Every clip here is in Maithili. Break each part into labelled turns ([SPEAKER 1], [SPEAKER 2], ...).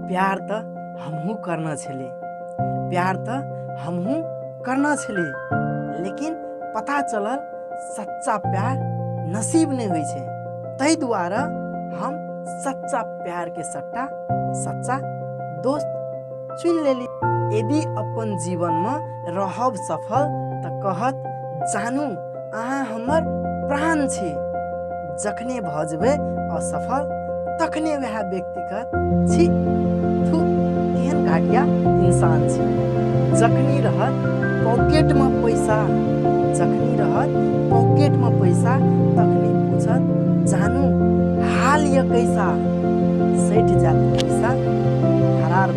[SPEAKER 1] प्यार तऽ हमहूँ करना छली प्यार तऽ हमहूँ करना छली लेकिन पता चलल सच्चा प्यार नसीब नहि होइ छै ताहि दुआरे हम सच्चा प्यारके सट्टा सच्चा दोस्त चुनि लेली यदि अपन जीवनमे रहब सफल तऽ कहत जानू अहाँ हमर प्राण छी जखने भऽ जेबै असफल तखने वएह व्यक्तिगत छी थू केहन घटिया इंसान छी जखनी रहत पॉकेटमे पैसा जखनी रहत पॉकेटमे पैसा तखनी पूछत जानू हाल यऽ कैसा सठि जायत पैसा फरार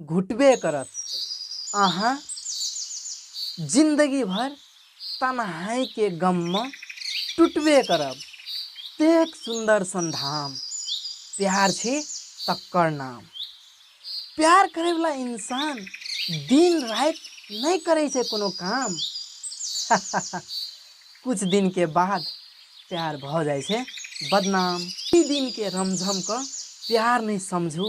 [SPEAKER 1] घुटबे करत अहाँ जिंदगी भर तनहाई के गम में टूटबे करब तेक सुंदर संधाम प्यार छी तक्कर नाम प्यार करे वाला इंसान दिन रात नहीं करे छे कोनो काम कुछ दिन के बाद प्यार भ जाए छे बदनाम दिन के रमझम क प्यार नहीं समझू